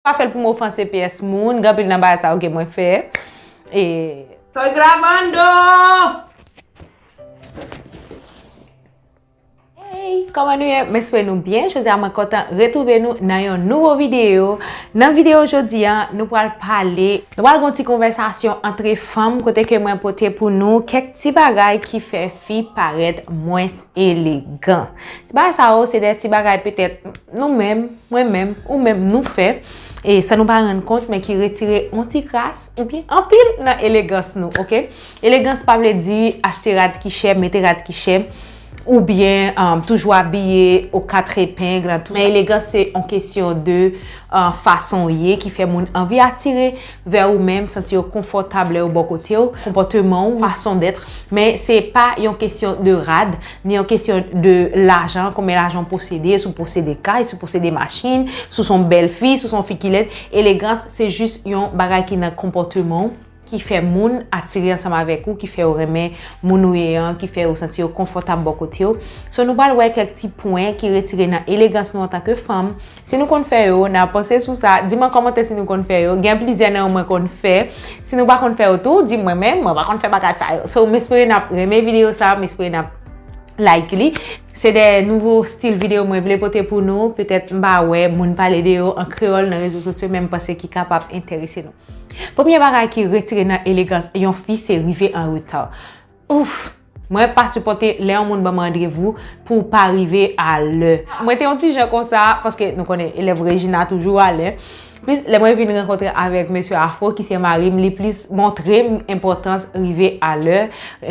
Pa fèl pou m ofanse pyès moun, gen anpil nan bagay sa yo ke mwen fè. E. Toy grabando! Hey! Kòman nou ye? M espere nou byen. Jodi a mwen kontan retwouve nou nan yon nouvo videyo. Nan videyo jodi a, nou pral pale. Nou pral gen yon ti konvèsasyon antre fanm kote ke mwen pote pou nou kèk ti bagay ki fè fi parèt mwens. elegan. Ti bagay sa yo se de ti bagay petèt nou menm, mwen menm, ou menm nou fè e san nou pa rann kont men ki retire yon ti kras oubyen anpil nan elegans nou, ok? Elegans pa vle di achte rad ki chè, mete rad ki chè oubyen toujou abiye o katre epeng nan tou sa. Men elegans se yon kesyon de fason ou ye ki fè moun anvi atire. vè ou menm, santi yo konfòtab lè yo bò kote w, konpòteman ou, fason dèt, men se pa yon kesyon de rad, ni yon kesyon de lajan, konbyen lajan w posede, si w posede kay, si w posede machin, si w se yon bèl fi, si w se yon fi ki lèd, elegans se jis yon bagay ki nan konpòteman w, ki fè moun atire ansanm avèk ou, ki fè yo renmen moun ou ye an, ki fè yo santi yo konfòtab bò kote w. So nou pral wè kèk ti pwen ki retire nan elegans nou antanke fanm, Si nou konn fè yo, na panse sou sa. Di m an kòmantè si nou konn fè yo. Gen plizyè nan yo mwen konn fè. Si nou pa konn fè yo tou, di mwen men, mwen pa konn fè bagay sa yo. So, m espere n ap renmen videyo sa, m espere n ap like li. Se de nouvo stil videyo mwen vle pote pou nou. Petèt m pa wè moun pale de yo an kreyòl nan rezo sosyo men m panse ki kapab enterese nou. Premye bagay ki retire nan elegans yon fi se rive an reta. Ouff! Mwen pa sipòte lè yon moun banm randrevou pou w pa rive a lè. Mwen te yon ti jan konsa, paske nou konnen elèv Regina toujou a lè. Plis lè mwen vin rankontre avèk mesye Afro ki se mari m, li plis montre m enpòtans rive a lè,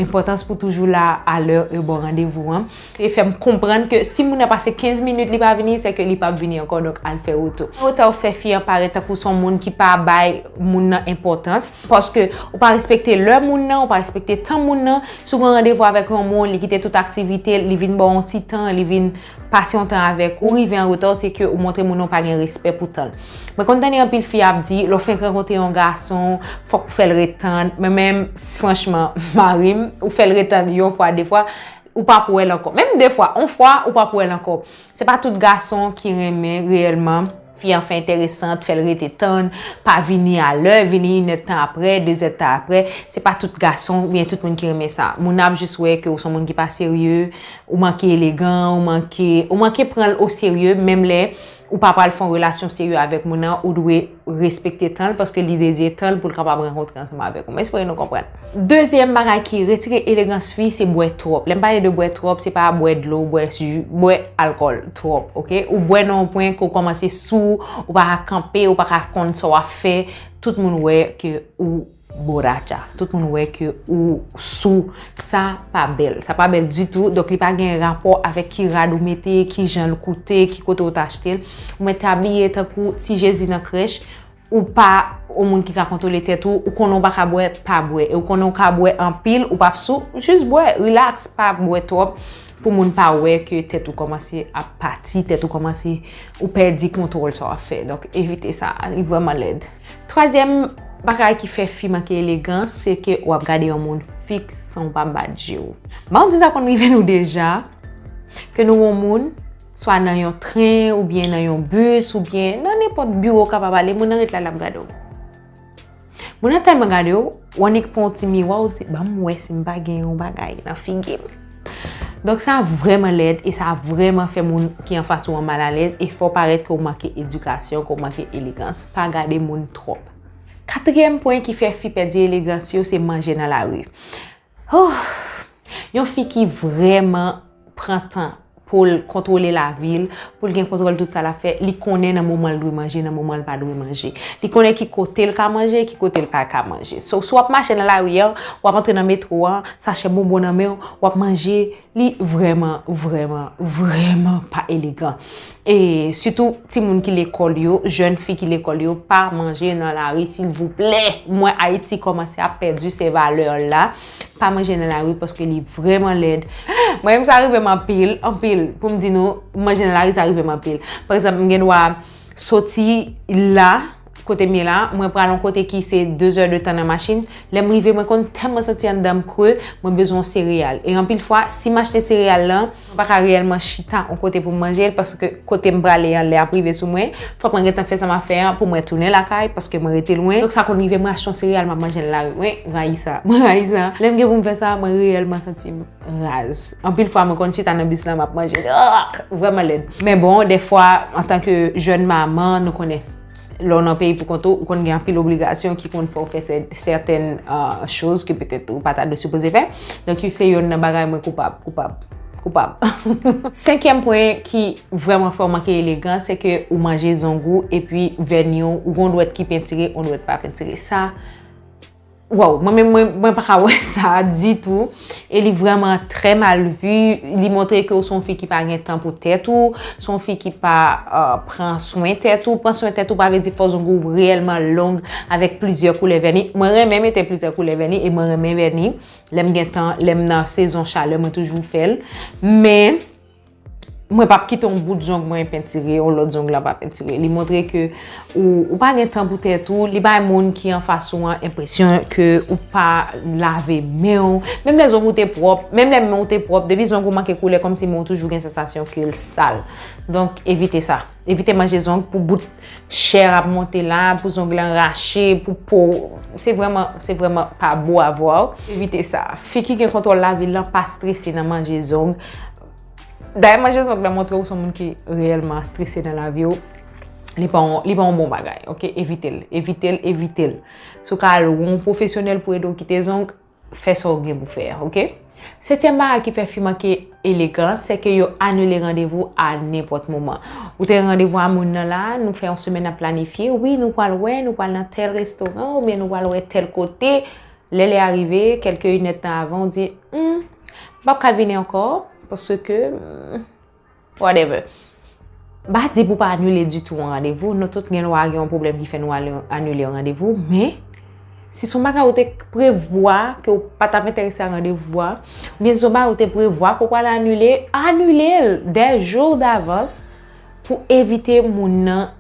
enpòtans pou toujou la a lè e bon randevou an. te fè m konprann ke si moun nan pase 15 minit li pa vini, sèke li pap vini ankò, donk al fè wout ou. Fè wotè ou fè fi an parèt tankou son moun ki pa bay moun nan enpòtans, paske ou pa respekte lè moun nan, ou pa respekte tan moun nan, si w gen yon randevou avèk yon moun, li kite tout aktivite l, li vin ba w yon ti tan, li vin pase yon tan avèk ou, ou rive an reta, se ke ou montre moun nan ou pa gen respè pou tan l. Mwen konn tande anpil fi ap di, lè w fenk rankontre yon gason, fòk ou fè l ret tann, mwen menm, franchman, mari m, ou fè l ret tann yon fwa, de fwa, Ou pap wèl ankò. Menm de fwa, on fwa, ou pap wèl ankò. Se pa tout gason ki renmen reyèlman. Fi an fè enteresant, fè l rete tann, pa vini a lè, vini inèd tan aprè, dezèd tan aprè. Se pa tout gason, ou byen tout moun ki renmen sa. Moun ap jis wè ke ou son moun ki pa serye, ou manke elegan, ou manke, ou manke pran l o serye, menm lè ou pa pral fon relasyon serye avèk moun nan, ou dwe. respekte tan l paske li dedye tan l pou l kapab rankontre ansanm avèk ou. M espere nou konprann. Dezyèm bagay ki retire elegans fi se bwè twòp. Lè m pale de bwè twòp, se pa bwè dlo, bwè ji, bwè alkòl twòp, ok? Ou bwè nan yon pwen ke w kòmanse sou, ou pa ka kanpe, ou pa ka konn sa w ap fè, tout moun wè ke ou Borracha tout moun wè ke ou sou sa pa bèl sa pa bèl ditou donk li pa gen rapò avèk ki rad ou mete ki jan l koute ki kote ou t achte l ou mèt abiye tankou ti jezi nan krèch ou pa yon moun ki ka kontwole tèt ou ou konnen ou pa ka bwè pa bwè e ou konnen ou ka bwè anpil ou pa p sou jis bwè relax pa bwè twòp pou moun pa wè ke tèt ou kòmanse ap pati tèt ou kòmanse ou pèdi kontwòl sa w ap fè donk evite sa li vrèman lèd. Twazyèm bagay ki fè fi manke elegan, se ke wap gade yon moun fiks san ou pa bat je ou. Ba ou di sa konn rive nou deja, ke nou wè yon moun, swa nan yon tren, ou byen nan yon bus, ou byen nan nenpòt biwo ou kapab ale, moun nan ret la lap gade ou. Moun nan tèlman gade ou. Ou annik pran yon ti miwa ou di, banm wè si m pa gen yon bagay nan figi m. Donk sa vrèman lèd e sa vrèman fè moun ki anfas ou an mal alèz e fè w parèt ke w manke edikasyon, ke w manke elegans. Pa gade moun twòp. Katriyèm pwen ki fè fi pèdi elegans yo se manje nan lari. Yon fi ki vrèman pran tan pou l kontwole lavi l, pou l gen kontwòl tout sa l ap fè, li konnen nan moman l dwe manje, nan moman l pa dwe manje. Li konnen ki kote l ka manje, ki kote l pa ka manje. So, si w ap mache nan lari an, w ap antre nan metwo an, sachè bonbon nan men w, w ap manje, li vrèman, vrèman, vrèman pa elegan. E, sitou, timoun ki lekòl yo, jèn fi ki lekòl yo, pa manje nan lari silvouplè! Mwen Ayiti kòmanse ap pèdi se valè l la. Pa manje nan lari paske li vreman lèd. Mwen menm sa rive m anpil, anpil. Pou m di nou, manje nan lari sa rive m anpil. Pa egzanp, m gen dwa soti la, kote m ye la, mwen pral yon kote ki se 2 zè de tan nan machin. Lè m rive, mwen konn tèlman santi anndan m kre, mwen bezwen yon sereyal. E anpil fwa, si m achte sereyal lan, Mwen pa ka reyèlman chita yon kote pou m manje l paske kote m prale an lè ap rive sou mwen. Fòk mwen gentan fè sa m ap fè an pou mwen tounen lakay paske mwen rete lwen. Donk sa konn rive m rachte yon sereyal m ap manje l lari. Mwen rayi sa. Mwen rayi sa. Lè m gen pou m fè sa, mwen reyèlman santi m raz. Anpil fwa mwen konn chita nan bis la m ap manje l. Vrèman lèd. Men bon, dèfwa antanke jèn manman nou konnen Lè w nan peyi pou kont ou, ou konn gen anpil obligasyon ki konn fè w fè sèten choz ke petèt ou pa ta dwe sipoze fè. Donk yo se yonn nan bagay mwen koupab, koupab, koupab. Senkyèm pwen ki vrèman fè w manke elegan, se ke ou manje zong ou epi vèni w, ou gen yon dwèt ki pentire, yon dwèt pa pentire. Sa. Waw mwen menm mwen pa ka wè sa ditou e li vreman trè mal vu li montre ke ou son fi ki pa gen tan pou tèt ou son fi ki pa euh, pran swen tèt ou pran swen tèt ou pa vle di fò zong ou reyèlman long avèk plizyè koulè vèni mwen renmen mete plizyè koulè vèni e mwen renmen vèni lèm gen tan lèm nan sezon chalè mwen toujou fèl men Mwen pap kite yon bout zong mwen pentire, yon lòt zong la pa pentire. Li montre ke ou pa gen tan pou tèt ou, li bay moun ki an fas ou an enpresyon ke ou pa lave men ou. Menm lè zong ou te pwòp, menm lè men ou te pwòp, depi zong ou manke koule kòm si men ou toujou gen sensasyon ke l sal. Donk evite sa. Evite manje zong pou bout chè ap monte la, pou zong lan rache, pou po. Se vreman, se vreman pa bo avwa ou. Evite sa. Fi ki gen kontwòl lavi lan pa strese nan manje zong. Dayè manje zòk la montre ou son moun ki reyèlman strese nan lavi ou. Li pa yon bon bagay, ok? Evitel, evitel, evitel. Sou ka al wou yon pwofesyonèl pou ede ou kite zong, fè sa ou gen pou fè, ok? Setyèm bagay ki fè fi manke elegan, se ke yo anile randevou a nenpòt moman. Ou te gen randevou a moun nan la, nou fè yon semèn nan planifye, wi nou pwal wè, nou pwal nan tèl restoran, oubyen nou pwal wè tèl kote. Lè lè a rive, kèlke inèd tan avan, ou di, Hum, m pap ka vini ankò, paske, hum, whatever. M pa di pou pa anile ditou yon randevou, nou tout gen dwa gen yon pwoblèm ki fè nou anile yon randevou, men, si son bagay ou te prevwa ke ou pa t ap enterese ak randevou a, oubyen si son bagay ou te prevwa ke ou pral anile, anile l 2 jou davans. Pou evite moun nan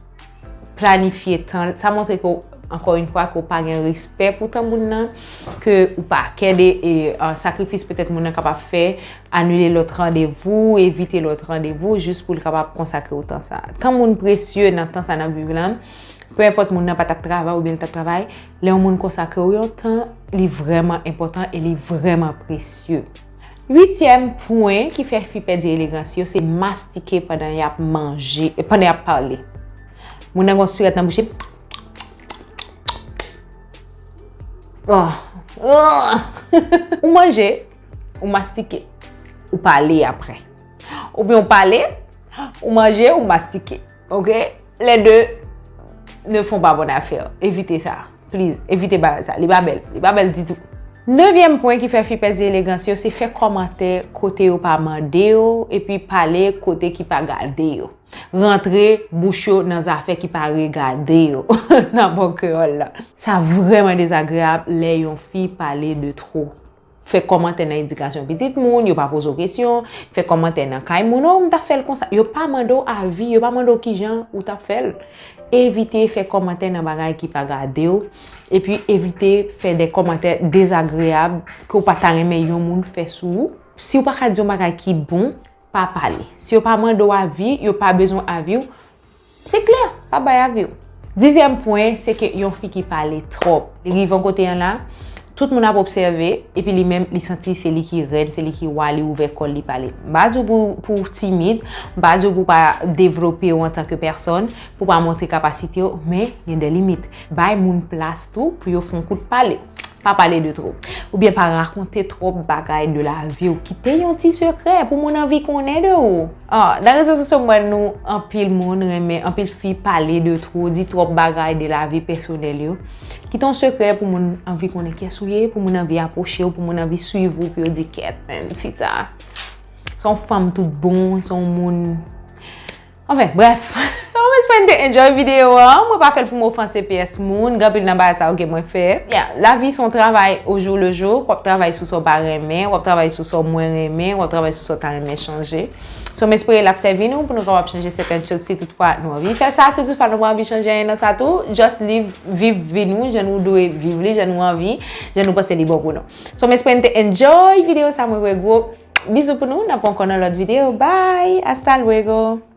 planifye tan l, sa montre ke, ankò yon fwa, ke ou pa gen respè pou tan moun nan, ke ou pa kè de sakrifis petèt moun nan kapab fè, anile lòt randevou, evite lòt randevou, jis pou l kapab konsakre ou tan sa. Tan moun presye nan tan sa n ap viv lan, pe enpòt moun nan pa t ap travay oubyen li t ap travay, lè yon moun konsakre ou yon tan, li vrèman enpòtan e li vrèman presye. Uityèm pwen ki fè fi pèdi elegans yo se mastike pandan y ap manje, pandan y ap pale. Moun nan gen yon sirèt nan bouch li. Ou manje, ou mastike, ou pale apre. Oubyen ou pale, ou manje, ou mastike. Ok, les deux ne font pas bonne affaire. Evite sa. Please, evite bagay sa. Li pa bèl. Li pa bèl ditou. Nevyèm pwen ki fè fi pèdi elegans yo, se fè kòmantè kote yo pa mande yo, epi pale kote ki pa gade yo. Rantre bouch yo nan zafè ki pa regade yo, nan bon kreyòl la. Sa vrèman dezagreyab lè yon fi pale de twò. Fè kòmantè nan edikasyon pitit moun, yo pa poze w kesyon, fè kòmantè nan kay moun, oh m ta fè l konsa, yo pa mande w avi, yo pa mande w kijan ou ta fè l. Evite fè kòmantè nan bagay ki pa gade w, epi evite fè de kòmantè dezagreyab ke w pa ta renmen yon moun fè sou ou. Si w pa ka di yon bagay ki bon, pa pale. Si yo pa mande w avi, yo pa bezwen avi w, Se klè, pa bay avi w. Dizyèm pwen, se ke yon fi ki pale twòp. Li rive yon kote an la, tout moun ap obsève, epi li menm li santi se li ki rèn, se li ki wa, li ouvè kò l li pale. M pa di w pou w timid, m pa di w pou w pa devlope w antanke pèsòn, pou w pa montre kapasite w, men gen de limit. Bay moun plas tou pou yo fon kout pale. Pa pale de twop. Ou byen pa rakonte twop bagay de la vi ou. Kite yon ti sekrè pou moun anvi konnen de ou. Nan rezo sosyo mwen nou anpil moun renmen, anpil fi pale de twop, di twop bagay de la vi pesonel yo. Kite yon sekrè pou moun anvi konnen kyes ou ye, pou moun anvi aproche ou, pou moun anvi swiv ou, pou yo di ket menm fi sa. Son fanm tout bon, son moun. Anfen, bref. So, m espere n te enjoy videyo a. Mwen pa fè l pou m ofanse pyès moun. Gen anpil nan bagay sa yo ke mwen fè. Ya, lavi se yon travay o jou le jou. W ap travay sou sa w pa renmen. W ap travay sou sa w mwen renmen. W ap travay sou sa w ta renmen chanje. So, m espere l ap sèvi nou pou nou kapab chanje sèten chòz si tout fwa nou anvi fè sa. Si tout fwa nou pa anvi chanje anyen nan sa tou, just live, viv vi nou jan nou dwe viv li, jan nou anvi, jan nou panse li bon pou nou. So, m espere n te enjoy videyo sa. Mwen voye gwo bizou pou nou. N ap ankò nan lòt videyo. Bye! Hasta luego!